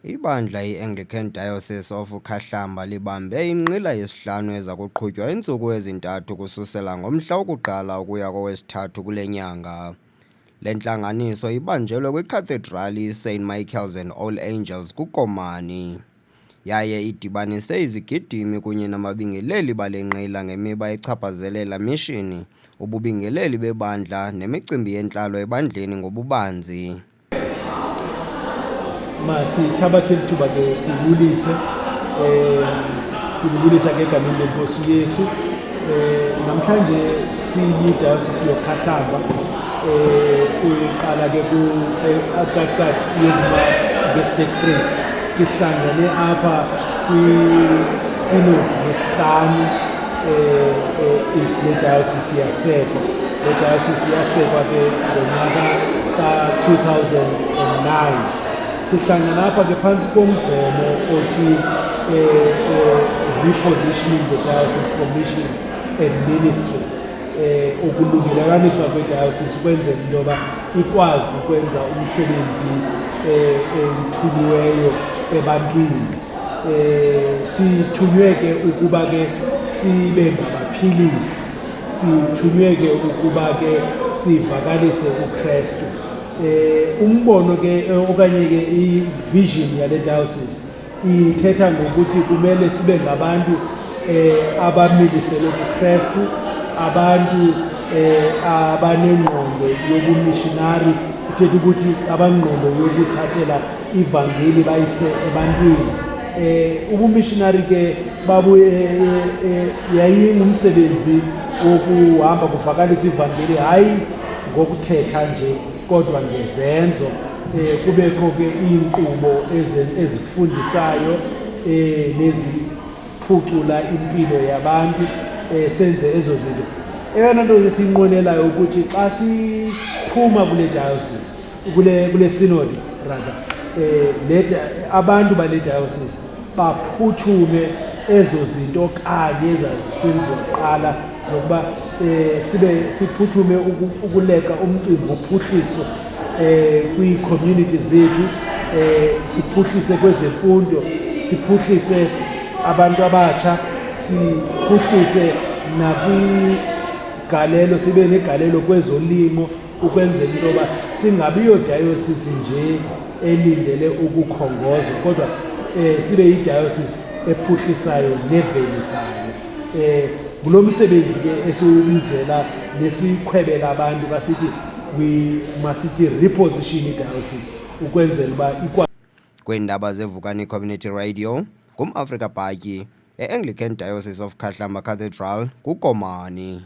Ibandla iAnglican Diocese of Ukhahlamba libambe inqila yesihlanu eza kuqhutywa iintsuku ezintathu ukususela ngomhla woku-1 ukuya kowesi-3 kule nyanga. Le ntlanganiso ibanjelwe kwiCathedral iSt Michael's and All Angels kuKomani, yaye idibanise izigidimi kunye nababingeleli bale nqila ngemiba echaphazelela mishini, ububingeleli bebandla nemicimbi yentlalo ebandleni ngobubanzi. masithabathe lithuba ke sibulise um sibulisa ke egameni lenkosi uyesu um namhlanje siyidayosisi yokhahlamba um uqala ke kukakat yezima ngestate free sihlangene apha kwisinodi yesihlanu um eh, eh, eh, yedayosisi yasekwa idayosisi yasekwa ke ngonyaka ka-2009 sihlangana apha ke phantsi komgomo othi eh, eh, repositioning the diocese commission and ministry eh ukulungelelaniswa kwedayosisi ukwenzela into yoba ikwazi ukwenza umsebenzi eh, ewuthuliweyo ebantwini eh sithunywe ke ukuba ke sibe ngabaphilisi sithunywe ke ukuba ke sivakalise ukristu um eh, umbono ke eh, okanye ke ivision yale diocese ithetha ngokuthi kumele sibe ngabantu um abamilisele kukristu abantu um abanengqondo yobumishinari ithetha ukuthi abangqondo yokuthathela ivangeli bayise ebantwini Eh, ubumishinari ke babu eh, eh, eh, yayingumsebenzi wokuhamba kuvakalisa ivangeli hayi ngokuthetha nje kodwa ngezenzo eh, kubekho ke iinkqubo ezifundisayo eh, neziphucula impilo yabantu eh, senze ezo zinto eyona nto esiyinqwenelayo ukuthi xa siphuma kule diocese kule kule sinodi rather eh le abantu bale diocese baphuthume ezo zinto kanye ezazisenziwa kuqala zokuba eh sibe siphuthume ukuleqa umcimbi wophuhliso eh kwi-community zethu eh siphuhlise kwezemfundo siphuhlise abantu abatsha siphuhlise nakwigalelo sibe negalelo kwezolimo ukwenzela into yoba singabi yodayosisi nje elindele ukukhongozwa kodwa um sibe yidayosisi ephuhlisayo nevelisayo um ngulo msebenzi ke esiwubizela nesikhwebela abantu basithi we masithi reposition idayosisi ukwenzela uba ikwa kweendaba zevukani community radio ngumafrika bhatyi e-anglican diocese of khahlamba cathedral kukomani